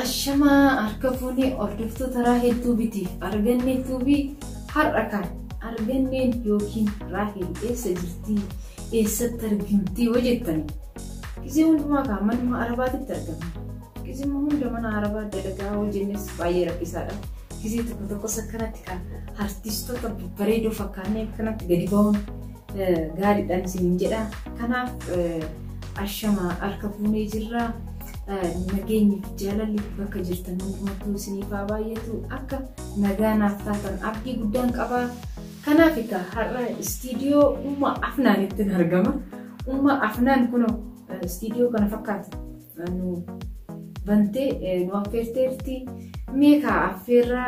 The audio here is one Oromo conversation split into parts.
Ashamaa harka fuune hordoftoota Raahel Tuubitiif Argannee Tuubii har'a kan Arganneen yookiin Raahel eessa jirtii eessatti argamtii yoo jettan gizee hundumaa kaa manuma arabaatitti argamna gizima hunda mana arabaa dalagaa yoo jennes baay'ee rakkisaadha gizee tokko tokkos akkanatti kan artistoota babbareedoo fakkaannee akkanatti gadi ba'uun gaariidhaan isiniin jedha. Kanaaf ashama harka fuunee jirra. Nageenyi fi jaalalli bakka jirtan hundumattuu isiniif haa baay'atu. Akka nagaa naaf taatan abdii guddaan qaba. Kanaaf egaa har'a istiidiyoo Umma Afnaanitti argama. Umma Afnaan kun istiidiyoo kana fakkaatu nu bantee nu affeerteerti mee kaa affeerra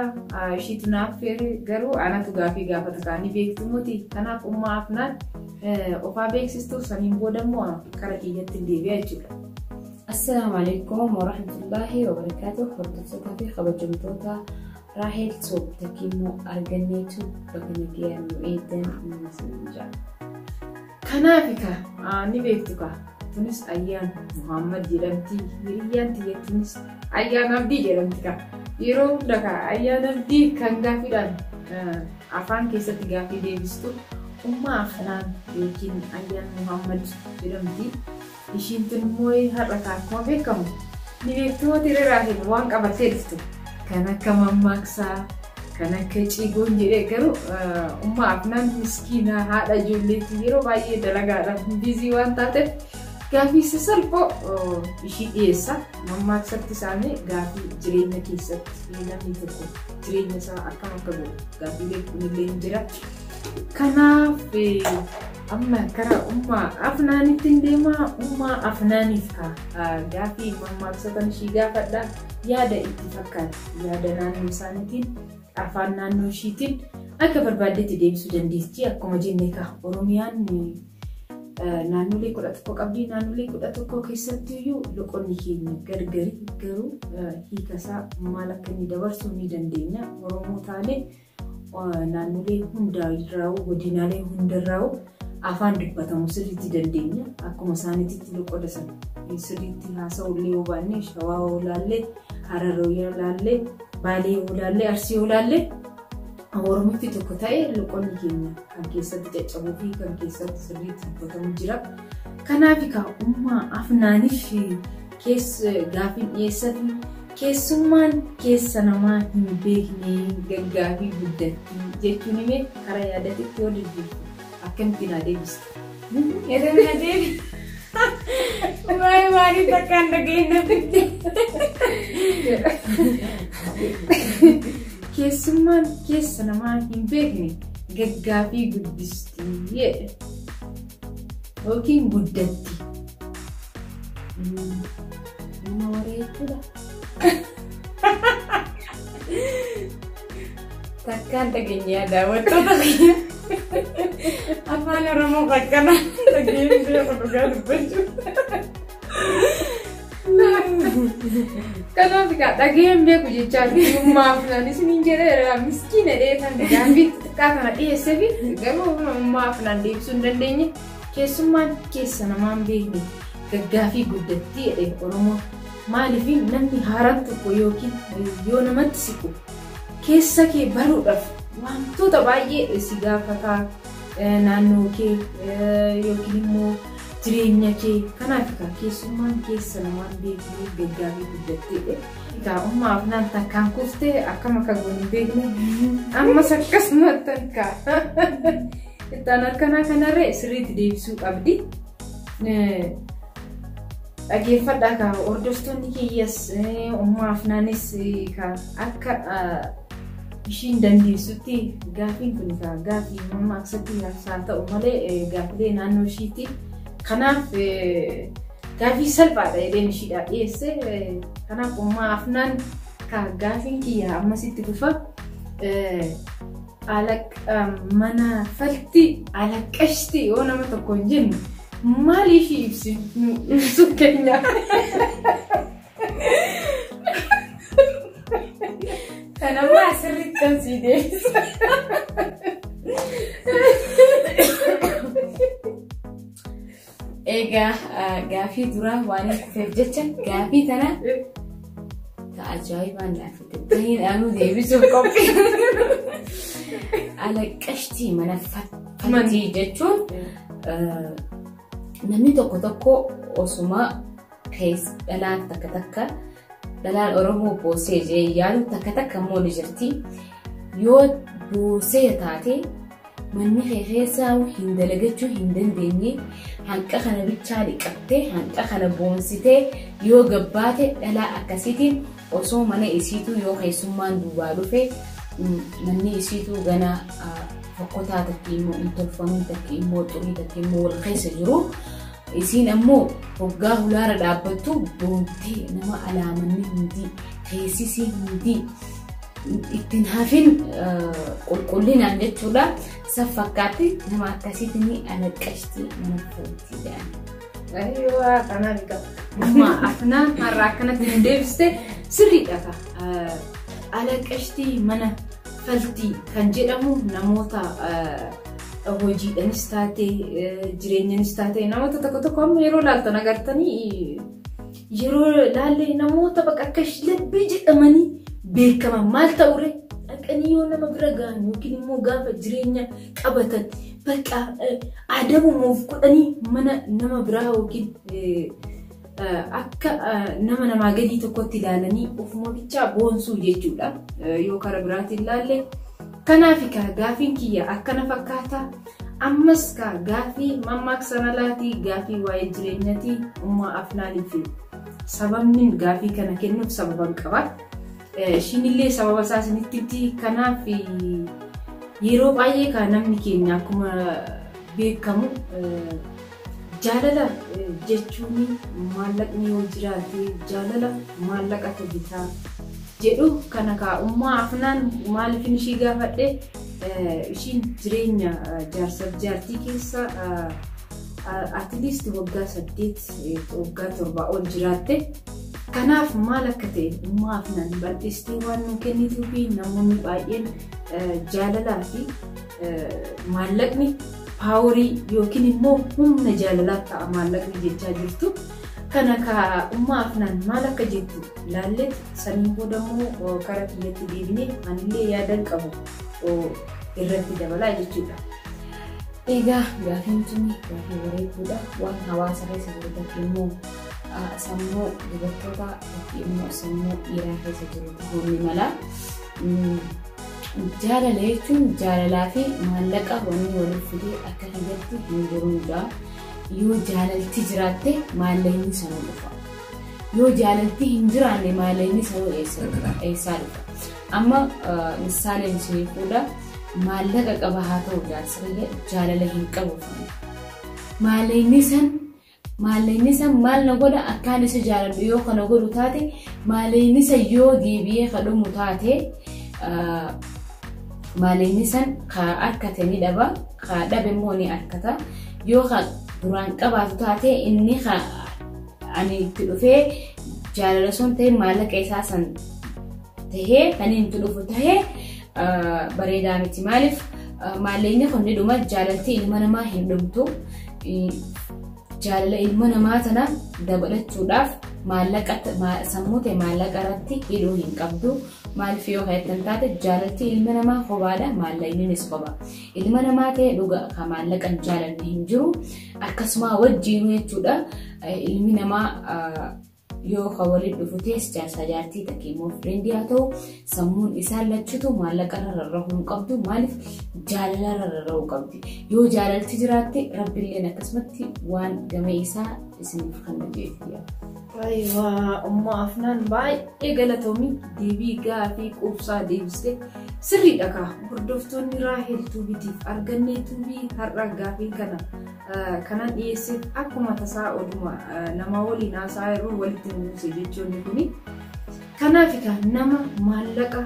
ishiitu na affeere garuu anatu gaafii gaafata kaa ni beektu moti kanaaf ummaa afnaan ofaa beeksistuuf saniin booda immoo kara kiyyatti hin deebi'a jechuudha. Assalaamu alaikum warahmatullaahi wabarakaatu hordoftoota fi kabajamtoota Raahel Toob takkiimmoo arganneetu bakka nagayaan nu eegan nu jira. Kanaafi ka ni beektu ka tunis ayyaan Muhammad jedhamti hiriyyaan tiyya tunis ayyaan abdii jedhamti ka yeroo hunda ka ayyaan abdii kan gaaffiidhaan afaan keessatti gaaffii deebistu ummaa afnaan yookiin ayyaan Muhammad jedhamti. Ishiin tun immoo har'a ka akkuma beekamu ni beekti moo tiree Raahel waan qabattee dhufte kan akka mammaaksaa kan akka ciigoon jedhee garuu umma afnaan miskiina haadha ijoolleetti yeroo baay'ee dalagaadhaan biizii waan taateef gaafii sasalphoo ishii dhiyeessa mammaaksatti isaanii gaafii jireenya keessatti namni tokko jireenya isaa akkam akka godhu gaafiilee kunillee hin jira kanaaf Amma karaa ummaa afnaanitti hin deemaa ummaa afnaaniif ka gaafii mammaaksota ishii gaafadha yaada itti fakkaate yaada naannoo isaaniitiin afaan naannoo ishiitiin akka barbaaddetti deebisuu dandeessi akkuma jenne ka oromiyaan naannolee kudha tokko qabdi naannolee kudha tokko keessatti iyyuu loqonni keenya gargari garuu hiikasaa maal akka inni dabarsuu ni dandeenya oromoo taanee Naannolee hundaa irraa'u, godinaalee hunda irraa'u afaan dubbatamu sirriitti dandeenya. Akkuma isaaniititti loqoda sana sirriitti haasa'uu illee yoo baanne Shawaa yoo ilaalle, Harar yoo ilaalle, Baalee yoo ilaalle, Arsii yoo ilaalle Oromiffi tokko ta'e loqonni keenya kan keessatti caccabuu fi kan keessatti sirriitti dubbatamu jira. Kanaaf egaa ummaa afnaaniif kees gaafiin dhiyeessatu keessummaan keessa namaa hin beekneen gaggaafii guddatti jechuun hime karaa yaadatitti yoo deddeebite akkamitti naa deebiste. Yeroo na deebi. Waa'ee maaliif akka hin dhageenye na fidde. Keessummaan keessa namaa hin beekne gaggaafii guddisti jedhe. Yookiin guddatti. Nama waree jechuudha. Takkaan dhageenyaa daawwattoota kiyya. Afaan Oromoo qaqqanaa dhageenyee dhugaa dubbachuu. Kanaaf egaa dhaga'een beeku jechaa dhugummaa afnaan isiniin jedheera miskiina dheetan gaafii xixiqqaa kana dhiyeessee fi garuu ummaa afnaan deebisuu hin dandeenye keessummaan keessa namaan beekne gaggaafii guddattii jedhee Oromoo maaliif namni haaraan tokko yookiin yoo namatti siqu keessa kee baruudhaaf wantoota baay'ee si gaafataa naannoo kee yookiin immoo Jireenya kee kanaaf egaa keessummaan keessa lamaan beeknee gaggaarii guddatteedhe. Egaa umma afnaan takkaan kuftee akkam akka goon hin beekne ammas akkasumatti akka ittaan harkanaa kanarree sirriitti deebisuu qabdi. Dhageeffadhaa kaa hordoftoonni kiyyas umma afnaanis akka ishiin dandeessutti gaafiin kun egaa gaafii mammaaksatti haa ta'u malee gaafilee naannoo ishiitti kanaaf gaafii salphaadha jedheen ishiidhaa dhiyeesse kanaaf ummaa afnaan ka gaafiin kiyya ammasitti fufa mana falti alaqashti yoo nama tokkoon jennu maaliif ibsinu ibsu keenya. Kanammoo asirratti kan sii deebisu. Egaa gaafii duraa waan kufeef jecha gaafii tana ta ajaa'ibaan naaf ta'in anuu deebisuuf qophii. Alaqashtii mana fattii jechuun namni tokko tokko osuma Kees dhalaan takka takka dhalaan Oromoo boosee jee yaadu takka takka immoo ni jirti. Yoo boosee taate manni kee keessaa hin dalagachuu hin dandeenye hanqa kana bichaa dhiqattee hanqa kana boonsitee yoo gabbaate dhalaa akkasiitiin osoo mana isiituu yoo keessummaan duubaa dhufe manni isiituu gana fokkotaa takki immoo hin tolfamin takki immoo xurii takki immoo wal keessa jiru Isiin ammoo hoggaa hulaara dhaabbattu boontee nama alaamanni hundii teessisii hundii ittiin hafin qulqullinaan jechuudha. San fakkaatti nama akkasiitti ni alaqqashti nama footi jedhan. Ayyoo kanaa ni qaba. Amma afnaan har'a akkanatti hin deebiste sirriidha ka. Alaqqashtii mana faltii kan jedhamu namoota hojiidhanis taate jireenyanis taate namoota tokko tokko amma yeroo laaltan agartanii yeroo laalle namoota bakka akka labbii jedhamanii beekaman maal ta'ure dhaqanii yoo nama bira gahan yookiin immoo gaafa jireenya qabatan bakka adabumuuf godhanii mana nama biraa yookiin akka nama namaa gadii tokkotti ilaalanii of mootichaa boonsuu jechuudha yoo kara biraatiin ilaalle. Kanaaf ka gaafiin kiyya akkana fakkaata. Ammas ka gaafii mammaaksa malaatii gaafii waa'ee jireenyatii ummaa afnaanii fi sababni gaafii kana kennuuf sababan qaba. Ishiinillee sababa isaa isinitti himti. Kanaaf yeroo baay'ee ka namni keenya akkuma beekamu Jaalala jechuun maallaqni yoo jiraate jaalala maallaqatu bita jedhu kana kaa ummaa afnaan maalifin ishii gaafadhe ishiin jireenya jaarsaf jaartii keessa at least waggaa saddeet waggaa torbaa ol jiraatte kanaaf maal akka ta'e ummaa afnaan bal'istee waan nuu kennituufi namoonni baay'een jaalalaa fi Maallaqni paaworii yookiin immoo humna jaalalaaf ta'a maallaqni jechaa jirtu. Kana kaa ummaa afnaan maal akka jettu laalleet saniin booda immoo kara kiyyatti deebinee anillee yaadan qabu irratti dabalaa jechuudha. Egaa gaafiin sun gaafii bareedduudha. Waan hawaasa keessa jiru tokko immoo sammuu dubartootaa yookiin immoo sammuu dhiiraa keessa jiru ta'uu ni mala. Jaalala jechuun jaalalaa fi maallaqa wanni waliif fide akka kiyyatti hin jiruun ja'a. Yoo jaalalti jiraatte maallaqni sanuu dhufa. Yoo jaalalti hin jiraanne maallaqni sanuu eessa dhufa? Eessaa dhufa? Amma misaaleen isinii fuudha. Maallaqa qaba haa ta'u jaarsi kiyya jaalala hin qabu. Maallaqni san Maaleeynisa maal na godha akkaan isa jaaladhu yoo kana godhu taate maaleeynisa yoo deebi'ee ka dhumu taate maaleeynisan ka arkate ni dhaba ka dhabe immoo ni arkata yoo ka duraan qabaatu taate inni ka ani itti dhufee jaalala sun ta'e maallaqa isaa san tahee kan itti dhufu tahee bareedaa miti maaliif maalleenyi kun ni dhuma jaalalti ilma namaa hin dhumtu jaalala ilma namaa tana dabalachuudhaaf maallaqa sammuu ta'e maallaqa irratti hidhuu hin qabdu maaliif yoo kan taate jaalalti ilma namaa kophaadha maallaqnis kopha ilma namaa ta'e dhuga kan maallaqa hin jaalanne hin jiru akkasuma wajjiinuu jechuudha ilmi namaa Yoo ka waliin dhufu tees jaarsaa jaartii takkee immoo fireendi haa ta'u sammuun isaan lachutu maallaqarra rarrahuu hin qabdu maaliif jaalalarra rarrahuu qabdi. Yoo jaalalti jiraatte rabbilleen akkasumatti waan gamee isaa isiniif kan hojjeefiidha. Wayiwaa umma afnaan baay'ee galatoomi deebii gaafii quubsaa deebiste sirriidha kaa hordoftoonni raahel tuubitiif argannee tuubii har'a gaafiin kana kanan dhiyeesseef akkuma tasaa oduma namaa waliin haasa'aa yeroo walitti nu buuse jechoonni kuni. Kanaaf egaa nama maallaqa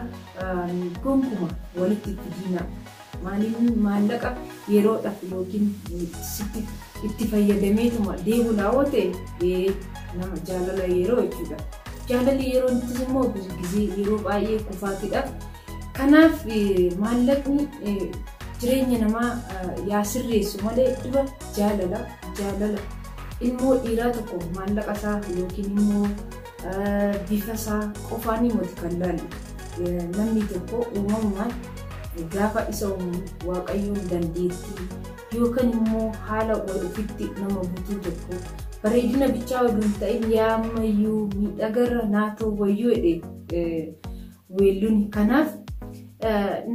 gonkuma walitti itti diinaa maaliin maallaqa yeroodhaaf yookiin sitti itti fayyadameetuma deemuudhaa yoo ta'e nama jaalala yeroo jechuudha. Jaalalli yeroo ittis immoo gizee yeroo baay'ee kufaatiidhaaf Kanaaf maallaqni jireenya namaa yaa sirreessu malee dura jaalala jaalala ilmoo dhiiraa tokko maallaqa isaa yookiin immoo bifa isaa qofaan himati kan laalu namni tokko uumamumaan gaafa isa uumu waaqayyoon dandeettii yookaan immoo haala wal ofitti nama butuu tokko bareedina bichaa oduu hin ta'in yaa ammayyuu miidhagarra naa ta'u wayyuu jedhee Weelluun kanaaf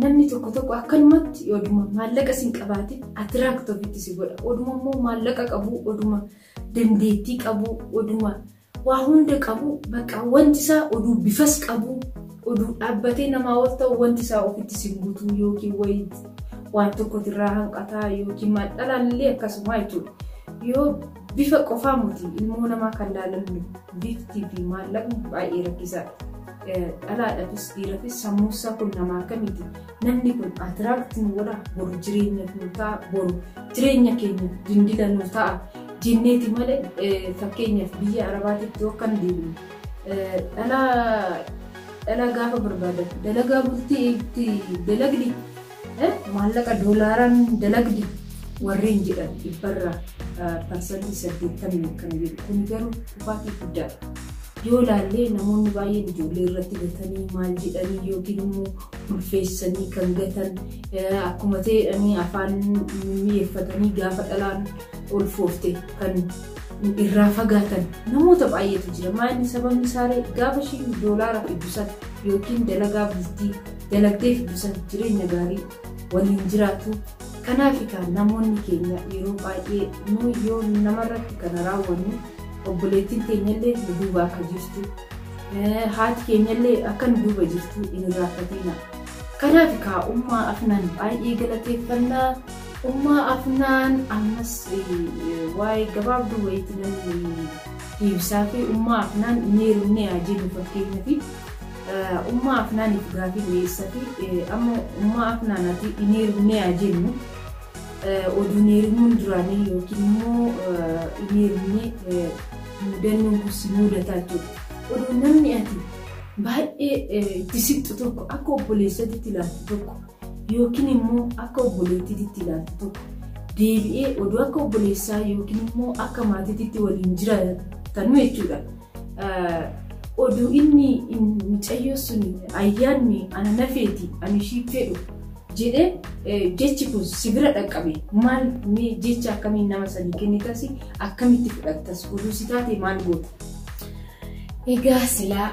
namni tokko tokko akkanumatti oduma maallaqa sin qabaatin atiraakti ofitti si godha. Oduma immoo maallaqa qabu, oduma dandeettii qabu, oduma waa hunda qabu bakka wanti isaa oduu bifas qabu, oduu dhaabbatee namaa ol ta'u wanti isaa ofitti si guutuu yookiin wayii waan tokkotu irraa hanqataa yookiin maal dhalaan illee akkasuma jechuudha. Yoo Bifa qofaa moti ilmoo namaa kan laalamnu bifti fi maallaqni baay'ee rakkisaadha. Dhalaadhafis dhiirafis sammuussaa kun nama akkamiiti? Namni kun atiraakti nu godha boru jireenyaf nu ta'a boru jireenya keenya dindila nu ta'a jenneeti malee fakkeenyaaf biyya arabaatitti yoo akkan deemnu dhalaa dhalaa gaafa barbaadatu dalagaa bultii itti dalagdi Maallaqa doolaaraan dalagdi warreen jedhan dhibbarraa parsantii 80 akkana jedhu. Kun garuu kufaatii guddaadha. Yoo ilaallee namoonni baay'een ijoollee irratti gatanii maal jedhanii yookiin immoo ulfeessanii kan gatan akkuma ta'edhanii afaan mi'eeffatanii gaafa dhalaan ulfoofte kan irraa fagaatan namoota baay'eetu jira. Maayini sababni isaaree gaafa ishiin doolaara fiddu sana yookiin dalagaa bultii dalagdee fiddu san jireenya gaarii waliin jiraatu. Kanaaf kaan namoonni keenya yeroo baay'ee nu yoo namarratti kana raawwannu obboleettiin teenyallee nu duuba akka jirtu haati keenyallee akka nu duuba jirtu hin irraanfatina. Kanaaf kaa ummaa afnaan baay'ee galateeffannaa ummaa afnaan ammas waa'ee gabaabduu wayiitti namni deebisaa fi ummaa afnaan hin heerumne haa jennu fakkeenyaaf. Ummaa Afnaanif gaafii dhiyeessati amma ummaa Afnaan ati hin heerumnee haa jennu oduu hin heerumuun duraanii yookiin immoo hin heerumnee mudannoon kun si mudataa jechuudha. Oduu namni ati baay'ee itti siqxu tokko akka obboleessatitti ilaaltu tokko yookiin immoo akka obboleettiitti ilaaltu tokko deebi'ee oduu akka obboleessaa yookiin immoo akka maatiitti waliin jiraatan jechuudha. oduu inni mucayyoo sun ayyaanni ana nafeeti ani ishii fedhu jedhee jechi kun si bira dhaqqabe maal mee jecha akkamiin nama sanii kennitas akkamitti fudhattas oduu si taate maal goota. Egaa silaa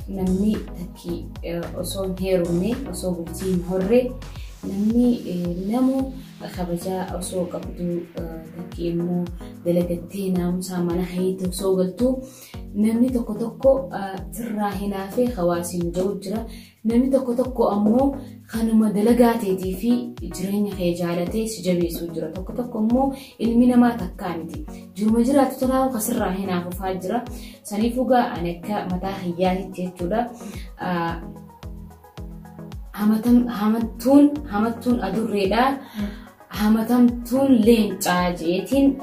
namni takki osoo hin heerumne osoo bultii hin horre namni namu kabajaa osoo qabduu takki immoo dalagattee naamusaa mana keetti osoo galtuu namni tokko tokko sirraa hinaafee hawaasiin jiru jira. Namni tokko tokko ammoo kanuma dalagaa teetii fi jireenya kee jaalatee si jabeessuu jira. Tokko tokko immoo ilmi namaa takkaa miti. Jiruma jiraatu tolaa kan sirraa hinaafufaa jira. Saniifuu gaa ani akka mataa kiyyaatitti jechuudha. Hamattuun hamattuun adurreedha. Hamatamtuun leencaa jeetiin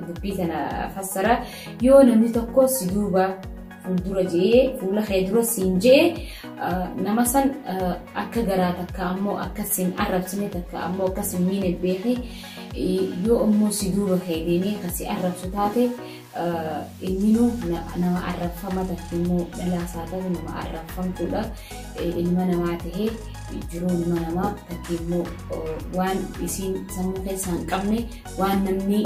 dubbii tana fassara. Yoo namni tokko si duuba fuuldura jee fuula kee dura siin jee nama san akka garaa takka ammoo akka siin arrabsine takka ammoo akka siin miine beekee yoo ammoo si duuba kee deemee kan si arrabsu taate Ilmino nama arrabfama takke mo dhalaa saa tatu nama arrabfamtudha ilma namaa tahe jiruu ilma namaa takke mo waan isiin sammuu keessaa hin qabne waan namni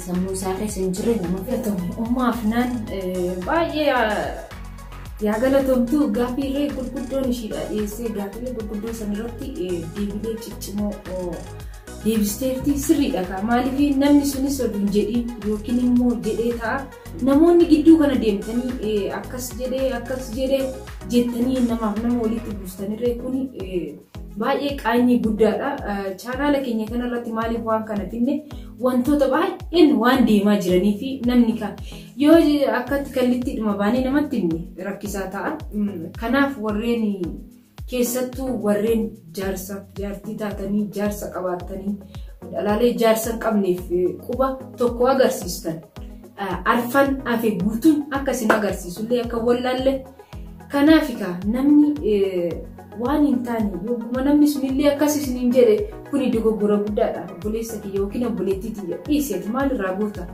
sammuu isaa keessa hin jirre nama fudhatamu. Ummaa Afnaan baay'ee yaa galatomtu gaaffiilee gurguddoon ishiidha dhiyeessee gaaffiilee gurguddoo san irratti deebilee ciccimoo deebisteerti sirriidha kaa maaliif namni sunis oduu hin jedhiin yookiin immoo jedhee ta'a namoonni gidduu kana deemtanii akkas jedhee akkas jedhee jettanii namaaf nama walitti buustanirree kun baay'ee qaanyii guddaadha chaanaala keenya kanarratti maaliif waan kana finne wantoota baay'een waan deemaa jiranii fi namni kan yoo akkatti kallitti dhuma baanee namatti rakkisaa ta'a kanaaf warreen Keessattuu warreen jaarsaaf jaartii taatanii jaarsa qabaattanii dhalaalee jaarsa hin qabneef quba tokko agarsiistan arfan hafe guutuun akka isin agarsiisullee akka wallaalle kanaaf egaa namni waan hin taane yogguma namni sunillee akkas isiniin jedhe kuni dogoggora guddaadha obboleessa kiyya yookiin obboleettii tiyya dhiisi ati maalirraa goota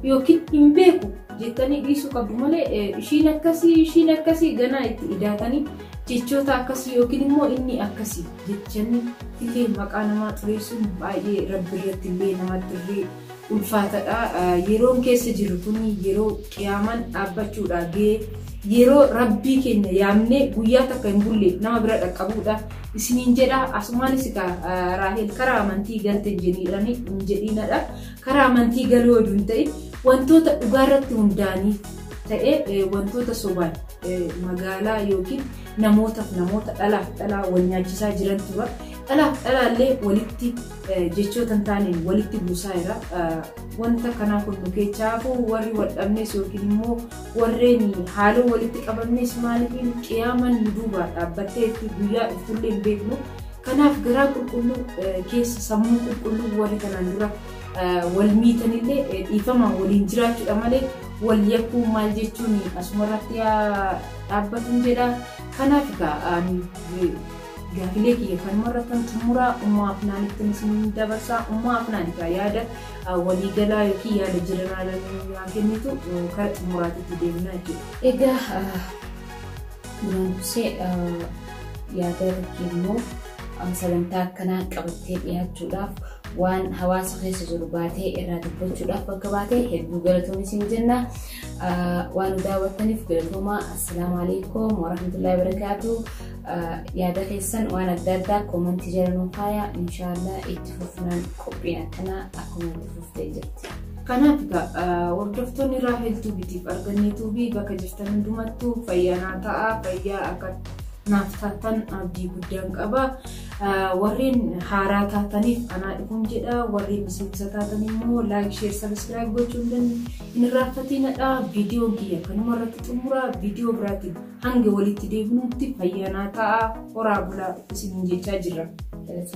yookiin hin beeku jettanii dhiisuu qabdu malee ishiin akkasii ishiin akkasii ganaa itti idaatanii jechoota akkasii yookiin immoo inni akkasii jechanii illee maqaa namaa xureessuun baay'ee rabbi irratti illee namatti illee ulfaatadha. Yeroon keessa jirru kun yeroo qiyaamaan dhaabbachuudha gahee yeroo rabbii keenya yaamnee guyyaa takka hin bulle nama bira dhaqqabuudha. Isiniin jedha asumaanis egaa raahel karaa amantii galte jedhanii hin jedhiinadha. Karaa amantii galuu oduu hin ta'in wantoota dhugaa irratti hundaa'anii ta'ee wantoota sobaan magaalaa yookiin namootaaf namoota dhalaaf dhalaa wal nyaachisaa jiran tura. Dhalaaf dhalaallee walitti jechoota hin taaneen walitti buusaa jira. Wanta kanaa kun nu keessaa hafuu warri wal dhabnes yookiin immoo warreen haaloo walitti qabamnes maaliif qiyaaman nu duubaa dhaabbatteetti guyyaa dhuftullee hin beeknu. Kanaaf garaa qulqulluu keessa sammuu qulqulluu warri kanaan dura wal miitanillee dhiifamaan waliin jiraachuudha malee wal yakkuu maal jechuun asumarratti dhaabbatuun jedha. Kanaaf egaa gaafilee kiyya kanuma irratti kan xumuraa ummaa afnaanitti isin dabarsaa ummaa afnaan egaa yaada waliigalaa yookiin yaada jiranaa kennitu kara xumuraatitti deemna jechuudha. Egaa Duraan dursee yaada Rikkii immoo sagantaa akkanaa qabattee dhiyaachuudhaaf waan hawaasa keessa jiru baatee irraa dubbachuudhaaf bakka baatee hedduu galatoomi siin jenna. Waan nu daawwattaniif galatoomaa. Assalaamu alaikum warahmatullahi wabarakaatu. Yaada keessan waan adda addaa koomantii jala nuu kaayaa. Inshaallah itti fufnaan qophiin akkanaa akkuma itti fufu. taasistee jirti. Kanaaf egaa hordoftoonni Raahel Tuubiitiif argannee tuubii bakka jirtan hundumattuu fayyaa naa ta'a fayyaa akka naaf taatan abdii guddaan qaba. Warreen haaraa taataniif anaa dhufuun jedha. Warreen miseensa taatan immoo laayik, sheer, sabiskiraayib gochuun hin irraanfatinaa. Viidiyoon kiyya kanuma irratti xumura. Viidiyoo biraatiin hanga walitti deebinutti fayyaa naa ta'a. Horaa bulaa isiniin jechaa jirra.